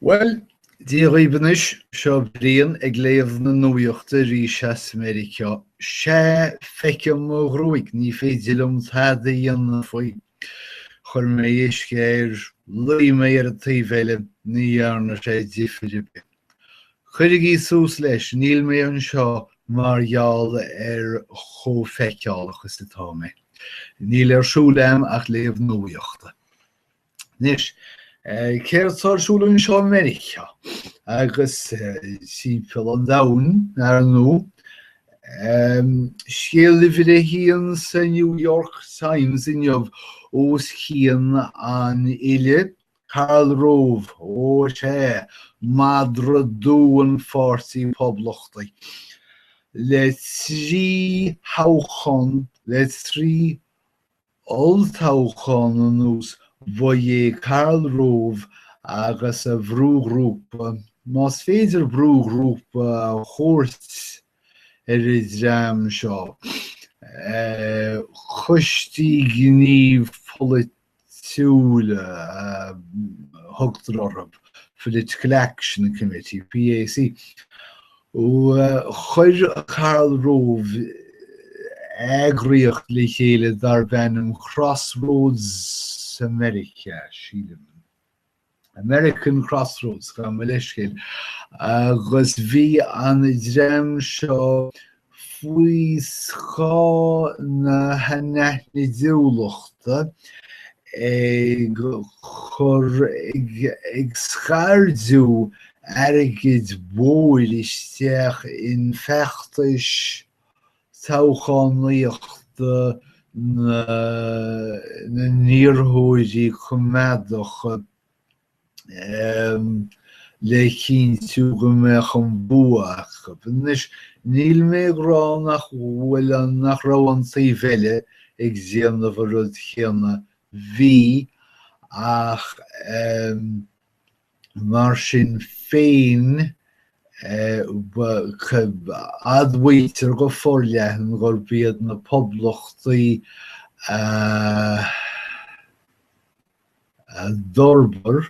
Bhuel, Dia dhaoibh anois, seo Brian ag léamh na nuaíochta arís as Meiriceá. Sea, feicim mo ghruaig, ní féidir liom tada a dhéanamh faoi. Chuir mé uisce air, luigh mé ar an taobh eile, ní dhearna sé difir ar bith. Cuirigí suas leis, níl mé anseo mar gheall ar chomh feiceálach is atá mé. Níl ar siúl a'm ach léamh nuaíochta. Anois, céard atá ar siúl anseo i Meiriceá agus timpeall an domhain ar ndóigh, scéal uimhir a haon sa New York Times inniu os cionn an fhillte Karl Rove, ó sea, madra dubh an Pháirtí Phoblachtaigh, le trí thoghchán, le trí Olltoghchán anuas bhuaigh Karl Rove agus a bhrúghrúpa, más féidir brúghrúpa a thabhairt ar an dream seo, coistí gnímh polaitiúla a thugtar orthu, Political Action Committee, PAC, Chuir Karl Rove eagraíocht le chéile darb ainm Crossroads America, sílim. American Crossroads, gabh mo leithscéal, agus bhí an dream seo faoi scáth na hanaithnidiúlachta ag cur, ag scairdeadh airgid mhóir isteach in feachtais toghchánaíochta na n-iarrthóirí coimeádacha le cinntiú go mbeadh an bua acu. Anois, níl mé ag rá nach bhfuil, nach raibh an taobh eile ag déanamh an rud chéanna, bhí, ach, Mar sin féin, admhaítear go forleathan gurb iad na Poblachtaigh a d'fhorbair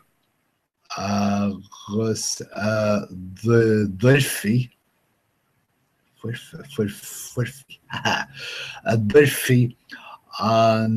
agus a d'fhoirfigh an.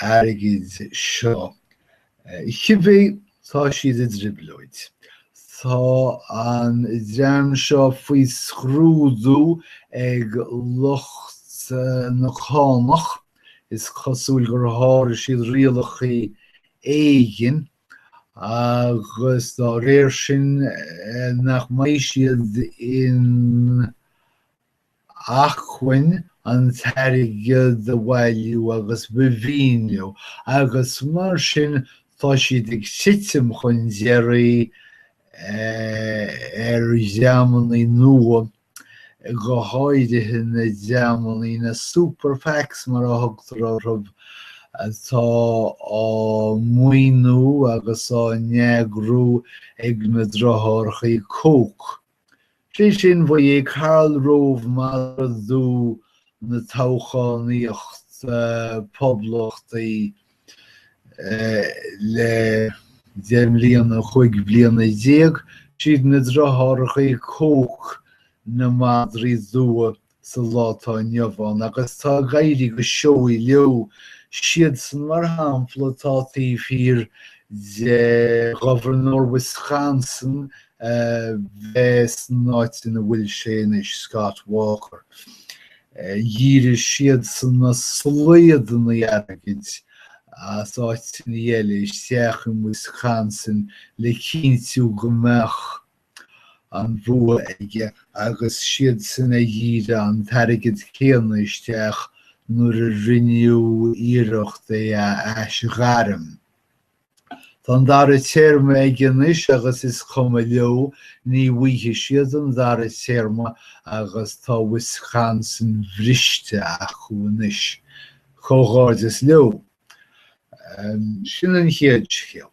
airgid seo. Cibé, tá siad i dtrioblóid. Tá an dream seo faoi scrúdú ag lucht na cánach, is cosúil gur sháraigh siad rialachaí éigin agus dá réir sin nach mbeidh siad in acmhainn an t-airgead a bhailiú agus a mhaoiniú agus mar sin tá siad ag titim chun deiridh ar dhreamannaí nua, go háirithe na dreamannaí, na Super PACs mar a thugtar orthu, atá á maoiniú agus á n-eagrú ag na driothárachaí Koch. Sé sin, ba é Karl Rove madra dubh na toghchánaíochta poblachtaí le deich mbliana, chúig bliana déag, siad na driothárachaí Koch, na madraí dubha sa lá atá inniu ann agus tá ag éirí go seoigh leo siadsan, mar shampla, atá taobh thiar de Governor Wisconsin a bheith san áit ina bhfuil sé anois, Scott Walker. Dhírigh siadsan na slaodanna airgid as áiteanna eile isteach in Wisconsin le cinntiú go mbeadh. an bhua aige agus siadsan a dhírigh an t-airgead céanna isteach nuair a rinneadh iarracht é a aisghairm. Tá an dara téarma aige anois agus is cuma leo, ní bhfaighidh siad an dara téarma agus tá Wisconsin briste acu anois. Comhghairdeas leo. Sin an chéad scéal.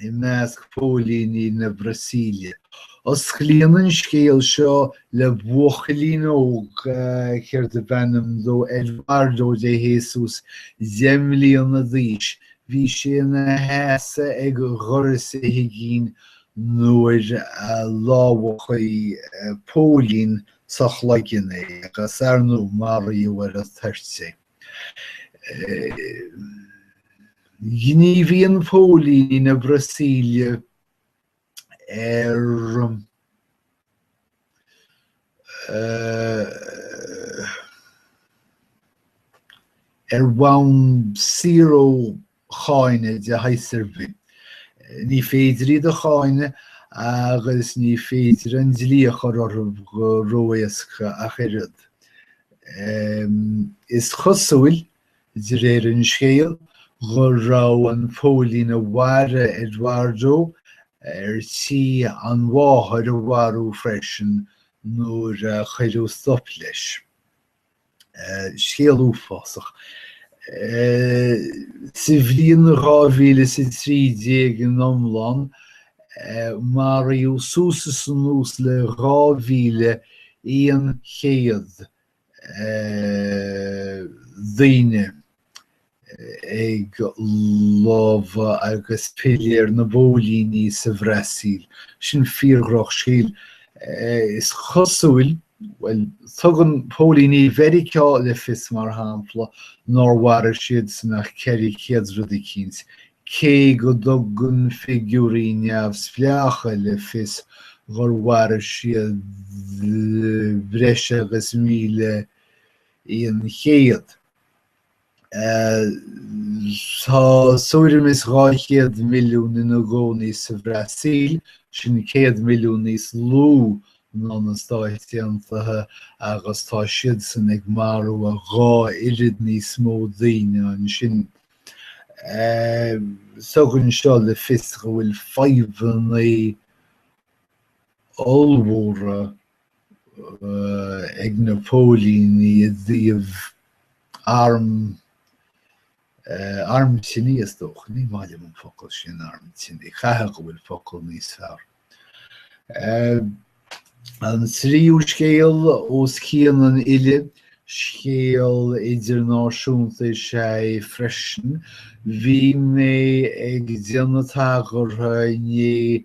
i measc phóilíní na Brasaíle. Osclaíonn an scéal seo le buachaillín óg, céard ab ainm dó, Eduardo de Jesus, deich mbliana d'aois. Bhí sé ina sheasamh ag doras a thigín nuair a lámhachaigh póilín sa chloigeann é agus, ar ndóigh, maraíodh ar an toirt é. Gníomhaíonn póilíní na Brasaíle ar ar bhonn saor ó cháineadh de shaghas ar bith. Ní féidir iad a cháineadh agus ní féidir an dlí a chur orthu go ró-éasca ach oiread. Is cosúil, de réir an scéil, go raibh an póilín a mharaigh Eduardo ar tí an mháthair a mharú freisin nuair a cuireadh stop leis. Scéal uafásach. Sa bhliain 2013 in iomlán, maraíodh suas is anuas le 2,100 daoine. ag lámha agus piléir na bpóilíní sa Bhrasaíl. Sin fíor-dhrochscéal, is cosúil. Bhuel, tugann póilíní Mheiriceá le fios, mar shampla, nár mharaigh siadsan ach ceithre chéad rud eicínt, cé go dtugann figiúirí neamhspleácha le fios gur mharaigh siad breis agus míle aon chéad. Tá tuairim is 200 milliún ina gcónaí sa Bhrasaíl, sin 100 milliún níos lú ná na Stáit Aontaithe, agus tá siadsan ag marú a dhá oiread níos mó daoine ansin. Tugann seo le fios go bhfuil fadhbanna ollmhóra ag na póilíní i dtaobh arm, arm tine is dócha, ní maith liom an focal sin arm tine, chaithfeadh go bhfuil focal níos fearr. An tríú scéal os cionn an fhillte, scéal idirnáisiúnta is ea é freisin. Bhí mé ag déanamh tagartha inné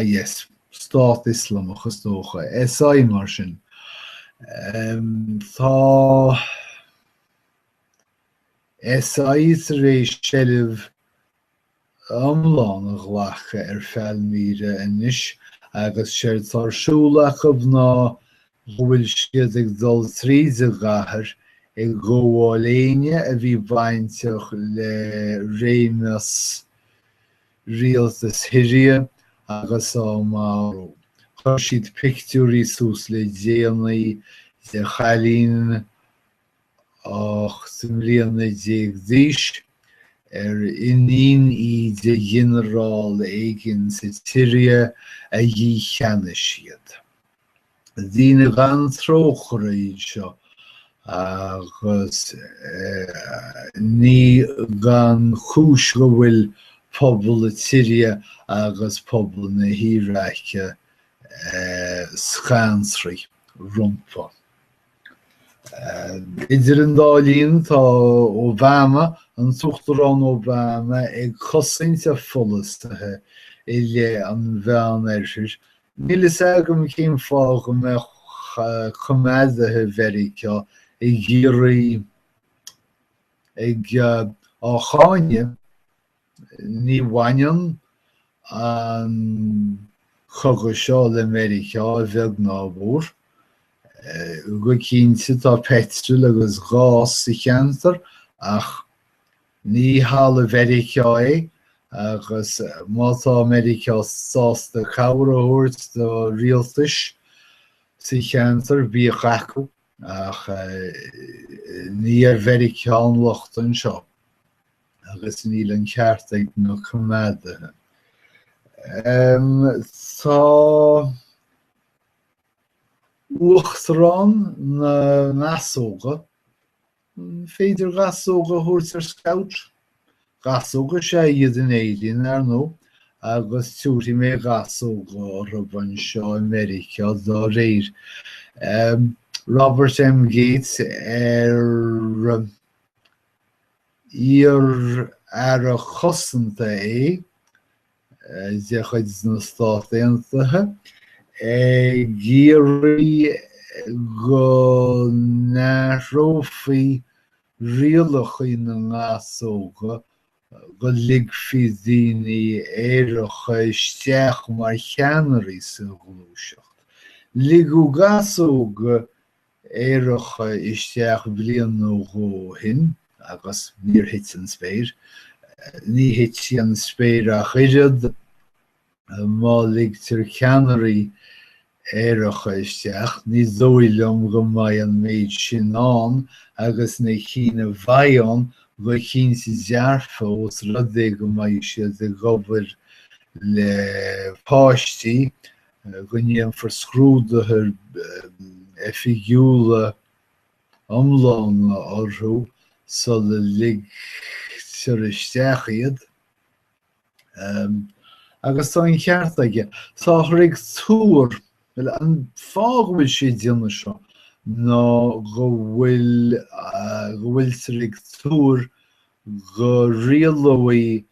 IS, Stát Ioslamach is dócha, SI mar sin. Tá SI tar éis seilbh iomlán a ghlacadh ar Phailmíre anois agus séard atá ar siúl acu ná go bhfuil siad ag dul tríd an gcathair ag gabháil éinne a bhí bainteach le réimeas rialtas Shiria agus á marú. Chuir siad pictiúirí suas le déanaí de chailín ocht mbliana déag d'aois, ar iníon í de ghinearál éigin sa tSiria, a dhícheannaigh siad. Daoine gan trócaire iad seo agus ní gan chúis go bhfuil pobal na Siria agus pobal na hIaráice scanraithe rompu. Idir an dá linn tá Obama, an tUachtarán Obama, ag cosaint a pholasaithe i leith an Mheánoirthir Níl fhios agam cén fáth go mbeadh coimeádaithe Mheiriceá ag iarraidh ag á cháineadh, ní bhaineann an cogadh seo le Meiriceá a bheag ná a mhór. Go cinnte tá peitril agus gás sa cheantar ach Ní talamh Mheiriceá é, agus má tá Meiriceá sásta cabhair a thabhairt do rialtais sa cheantar, bíodh acu, ach ní ar Mheiriceá an locht anseo, agus níl an ceart ag na coimeádaithe. Tá uachtarán na ngasóga Féidir gasóga a thabhairt ar scout? Gasóga is ea iad in Éirinn, ar ndóigh, agus tiúrfaidh mé gasóga orthu anseo i Meiriceá dá réir. Robert M. Gates, ar iar-Aire Cosanta é, de chuid na Stát Aontaithe ag iarraidh go n-athrófaí rialacha na ngasóga go ligfí daoine aeracha isteach mar cheannairí sa ghluaiseacht. Ligeadh gasóga Aeracha isteach bliain nó dhó ó shin agus níor thit an spéir. Ní thitfidh an spéir ach oiread má ligtear ceannairí aeracha isteach. Ní dóigh liom go mbeidh an méid sin ann agus na cinn a bheidh ann go cinnte dearfa ós rud é go mbeidh siad ag obair le páistí go ndéanfar scrúduithe oifigiúla iomlána orthu sula ligtear isteach iad, agus tá an ceart aige. Táthar ag tuar, bhuel, an fáth go bhfuil sé ag déanamh seo ná go bhfuil, go bhfuiltear ag tuar go rialóidh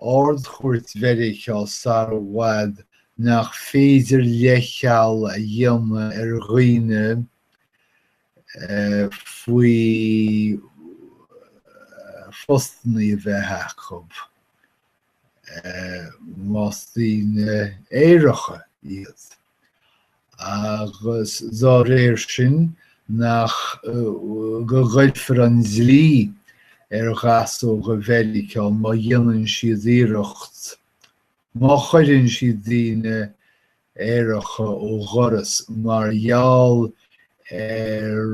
Ard-Chúirt Mheiriceá sar i bhfad nach féidir leithcheal a dhéanamh ar dhaoine faoi phostanna a bheith acu, más daoine aeracha iad. agus dá réir sin go gcuirfear an dlí ar Ghasóga Mheiriceá má dhéanann siad iarracht, má chuireann siad daoine aeracha ó dhoras mar gheall ar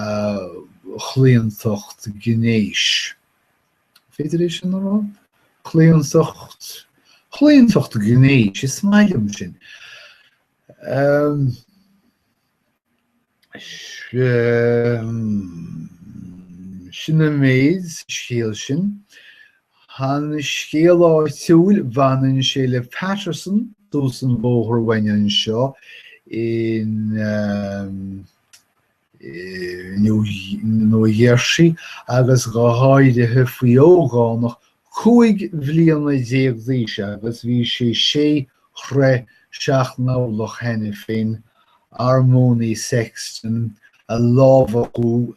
a gclaontacht gnéis. féidir é sin a rá? claontacht, chlaontacht gnéis, is maith liom sin. Sin an méid sa scéal sin. An scéal áitiúil, bhaineann sé le Paterson, thuas an bóthar uainn anseo in New Jersey, agus go háirithe faoi ógánach cúig bhliana déag d'aois agus bhí sé sé troithe seacht n-orlach cheana féin, Armoni Sexton, a lámhachadh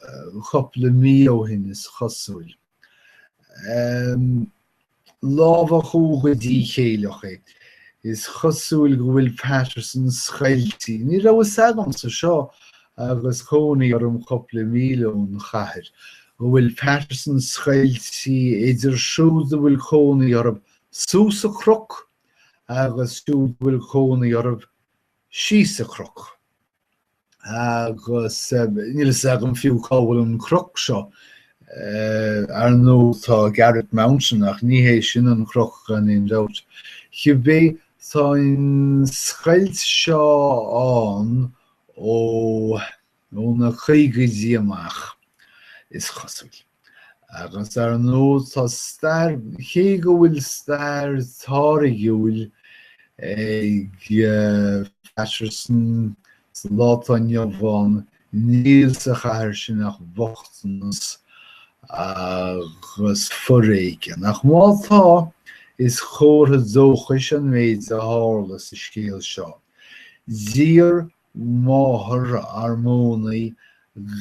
cupla mí ó shin, is cosúil. lámhachadh go díchéilleach é. Is cosúil go bhfuil Paterson scoiltí, ní raibh fhios agamsa seo agus cónaí orm cupla míle ón chathair, go bhfuil Paterson scoiltí idir siúd a bhfuil cónaí orthu suas an cnoc agus siúd a bhfuil cónaí orthu síos an cnoc. agus níl a fhios agam fiú cá bhfuil an cnoc seo. Ar ndóigh tá Garret Mountain ach ní hé sin an cnoc gan aon dabht. Cibé tá an scoilt seo ann ó na caogaidí amach, is cosúil. Agus ar ndóigh tá stair, cé go bhfuil stair táirgiúil ag Paterson sa lá atá inniu ann, níl sa chathair sin ach bochtanas agus foréigean. Ach má tá, is comhartha dóchais an méid a tharla sa scéal seo. D'iarr máthair Armoni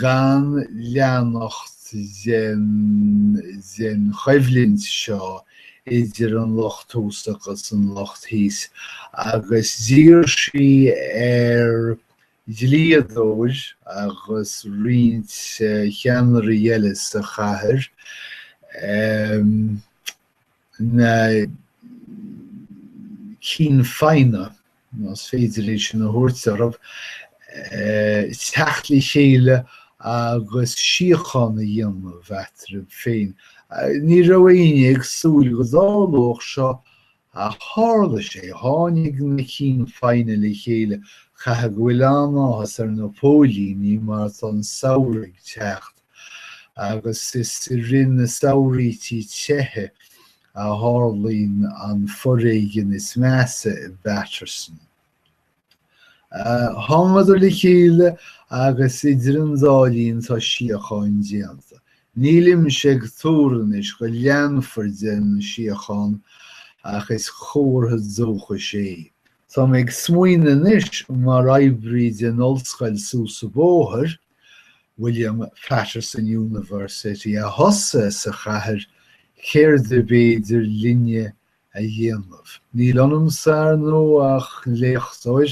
gan leanacht den choimhlint seo idir an lucht thuas agus an lucht thíos agus d'iarr sí ar dhlíodóir agus roinnt cheannairí eile sa chathair na cinn feadhna más féidir é sin a thabhairt orthu, teacht le chéile agus síocháin a dhéanamh eatarthu féin. Ní raibh éinne ag súil go dtarlódh seo ach tharla sé, tháinig na cinn feadhna le chéile. Caithfidh go bhfuil an-áthas ar na póilíní mar tá an samhradh ag teacht. agus is i rith na samhraítí teo a tharlaíonn an foréigean is measa i bPaterson. Thángadar le chéile agus idir an dá linn tá síocháin déanta. Nílimse ag tuar anois go leanfar den síocháin ach is comhartha dóchais é. Tá mé ag smaoineamh anois mar oibrí den ollscoil suas an bóthar, William Paterson University a thosaigh sa chathair, céard ab fhéidir linne a dhéanamh? Níl ionamsa, ar ndóigh, ach léachtóir,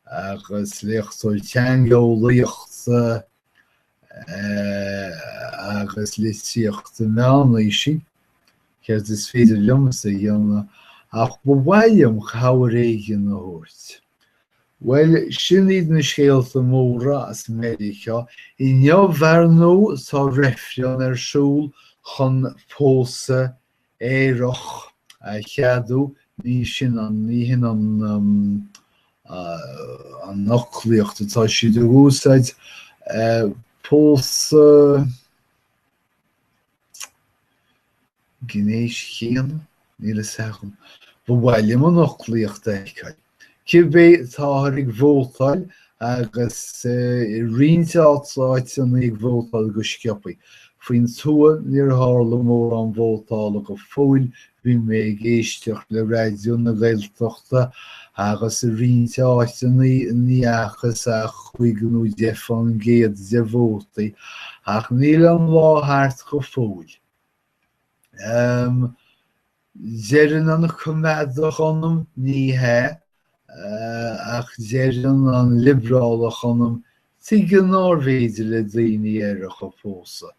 agus léachtóir teangeolaíochta agus litríochta meánaoisí, céard is féidir liomsa a dhéanamh ach ba mhaith liom cabhair éigin a thabhairt. Bhuel, sin iad na scéalta móra as Meiriceá. Inniu, ar ndú, tá reifreann ar siúl chun pósadh aerach a cheadú. Ní sin an, ní hin an, an fhoclaíocht atá siad ag úsáid. Pósadh. gnéis chéanna? Níl fhios agam. Ba mhaith liom an fhoclaíocht a fheiceáil. Cibé, táthar ag vótáil agus i roinnt áit, áiteanna ag vótáil go sciobtha. Faoin tuath níor tharla mórán vótála go fóill Bhí mé ag éisteacht le Raidió na Gaeltachta agus i roinnt áiteanna ní fhacthas ach cúig nó deich fán gcéad de vótaí, ach níl an lá thart go fóill. Em. deireann an coimeádach ionam, ní hea, ach deireann an liobrálach ionam, Tuige nárbh fhéidir le daoine aeracha pósadh?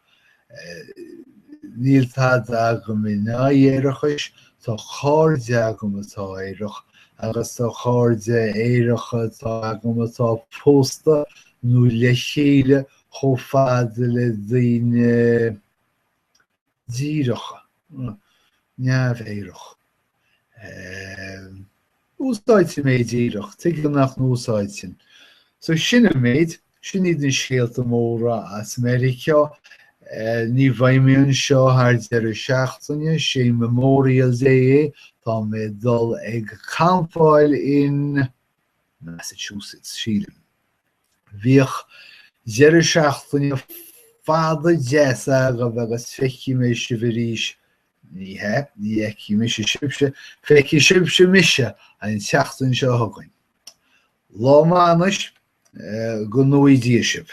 Níl tada agam in aghaidh aerachais, tá cairde agam atá aerach agus tá cairde aeracha tá agam atá pósta nó le chéile chomh fada le daoine díreacha, neamh-aerach. Úsáidfidh mé díreach, tuige nach n-úsáidfinn? So sin an méid, sin iad na scéalta móra as Meiriceá. Ní bheidh mé anseo thar deireadh seachtaine, sé Memorial Day é, tá mé ag dul ag campáil in Massachusetts, sílim. Bíodh deireadh seachtaine fada deas agaibh agus feicfidh mé sibh arís, ní hea, ní fheicfidh mise sibhse, feicfidh sibhse mise, an tseachtain seo chugainn. Lá maith anois, go nuaí Dia sibh.